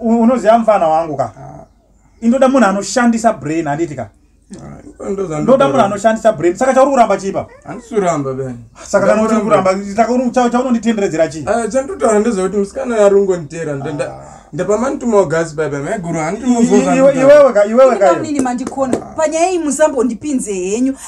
unoziva mfana wangu ka ah. indoda munhu anoshandisa brain handiti ka ah, ndoda munhu anoshandisa brain saka chauri kuramba chipa handisuramba ben saka kana uchiri kuramba chaunonditenderedzera chii ah, chandotaura ndezvekuti musikana yarungonditeera ndapamanitumogasi baba maiguru handiiwewe kaiwewe kaio panyaya iyi musambondipinze henyu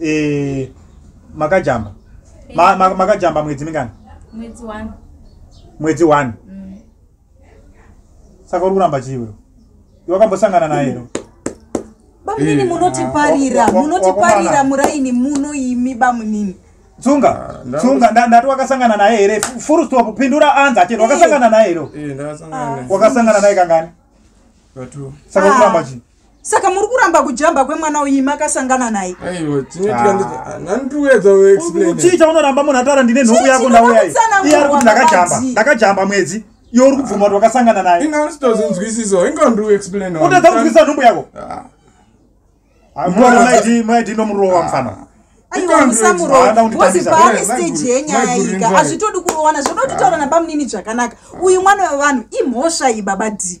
eh, makajamba ma, ma, makajamba mwedzi mingani mwedzi one mwedzi one mm. saka uri kuramba chii wewe wakambosangana naye ero bamunini eh, munotiparira ah, munotiparira muraini muno imi bamunini tsunga ah, tsunga ndati wakasangana naye here full stop pindura anza achete wakasangana naye ero wakasangana naye kangani saka uri kuramba chii saka muri kuramba kujamba kwemwana uyi makasangana naye uchiita unoramba munhu ataura ndine nhoku yako ndauya iye ari kuti ndakajamba ndakajamba mwedzi iyo uri kubvuma kuti wakasangana naye utadza kunzwisisa nhumbu yako maidi nomurowa mfana azvitodi kurowana zvoda kutitaura nabamunini zvakanaka uyu mwana wevanhu imhosva iyi baba dii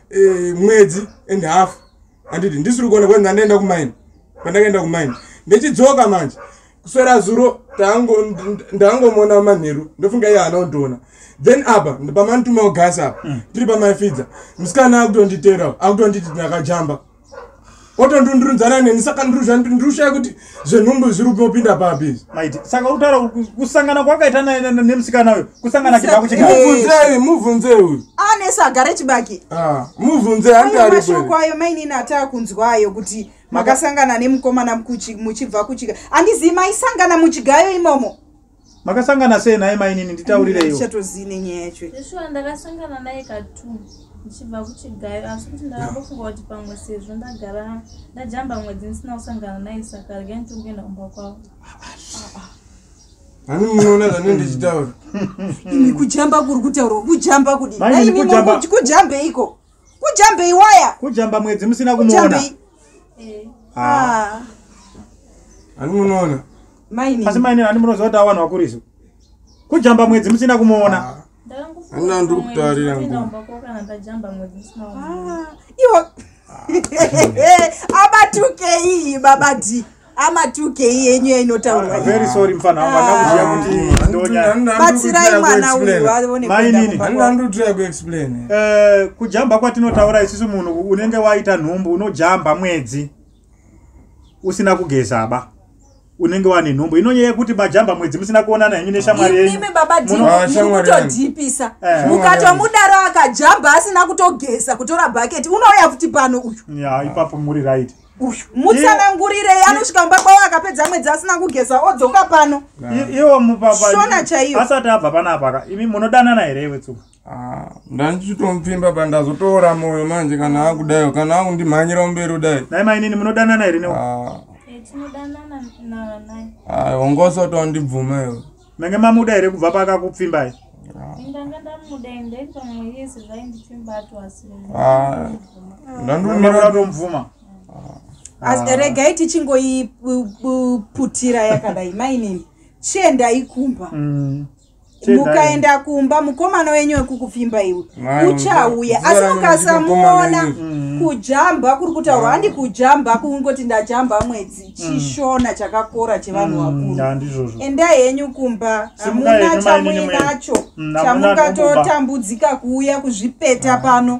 eh, mwedzi and half handiti ndisiri kuona kwenzi ndandaenda kumaini pandakaenda kumaini ndechidzoka manje kuswera zuro ndangomona manheru ndofunga iye haana kutiona then apa pamanitumawo gasi apa mm. tiri pamaifidza musikana akutonditeerawo akutonditi ndakajamba otondundunzana neni saka ndirushaya kuti zvenhumbu zviri kupinda papi maiti saka utaura kusangana kwakaita nemusikana uyo kusangana chibako chimubvunzei mubvunzei uyu anesa agare chibaki ah, mubvunzei andiarishoko ayo mainini ataa kunzwa ayo kuti makasangana nemukomana muchibva kuchika andizivi maisangana muchigayo imomo makasangana sei naye mainini nditaurireichatozivi nenyaya yacho ishuwa ndakasangana naye katu ndichibva kuchigayo asi kuti ndakangofunga kuti pamwe sezvo ndagara ndajamba mwedzi ndisina kusangana naye saka rega nditokuenda kumba kwavo ani munoona zvanei ndichitaura imi kujamba kuri kutaurwa kujamba kudi kujambeiko kujambei waya kujamba mwedzi musina kumuona eh. ah. ani munoona Mainini. asi mainini ani munoziva kuti awanhu wakuriso kujamba mwedzi musina kumuona Ah, Handina ndiri kutarira nguva. Ah, iwo abatukeii baba d amatukei yenyu yainotaurwa iyi. very sorry mfana wangu akakuziva Ah. kuti Handina- ndonyaya handina ndiri batsirai kutry mwana kuexplain. uyu aone Mainini. kuenda kumba Handina kwavo. ndiri kutry kuexplain. Eh, kujamba kwatinotaura isusu munhu unenge waita nhumbu unojamba mwedzi usina kugeza ba unenge wane nhombo inonyaya yekuti majamba mwedzi musina kuonana henyu neshamwari yenyuimi baba dikutodhipisa ah, eh. mukatomudaro akajamba asina kutogeza kutora bhaketi unouya kuti pano uyu ya ipapo muri right uyu mutsanangurirei anosvika mumba kwavo akapedza mwedzi asina kugeza odzoka pano iwo mupapa shona chaiyo asati abva panapaka imi munodanana here iwe tsuka Ah, ndandichitomupfimba pa ndazotoora moyo manje kana akudayo kana akundimhanyira mberi kudai nai mainini munodanana here newe Ah, Eh, tinodanana na- naye ah, wangosoto wandibvuma iwe mange mamuda here kubva paakakupfimbai ndanga ndamuda ende pamwe yese zvaindipfimba atoasiri Ah, Munoda ndandomira kutomubvuma As- regai tichingoiputira yakadai mainini chiendai kumba Mm. mukaenda kumba mukomana wenyu wekukupfimba iwe uchauya asi mukasamuona mm. kujamba kuri kutaurwa handi kujamba kungoti ndajamba mwedzi mm. chishona chakakora chevanhu mm, vakuru endai henyu kumba hamuna chamuinacho chamungatotambudzi kuuya kuzvipeta ah. pano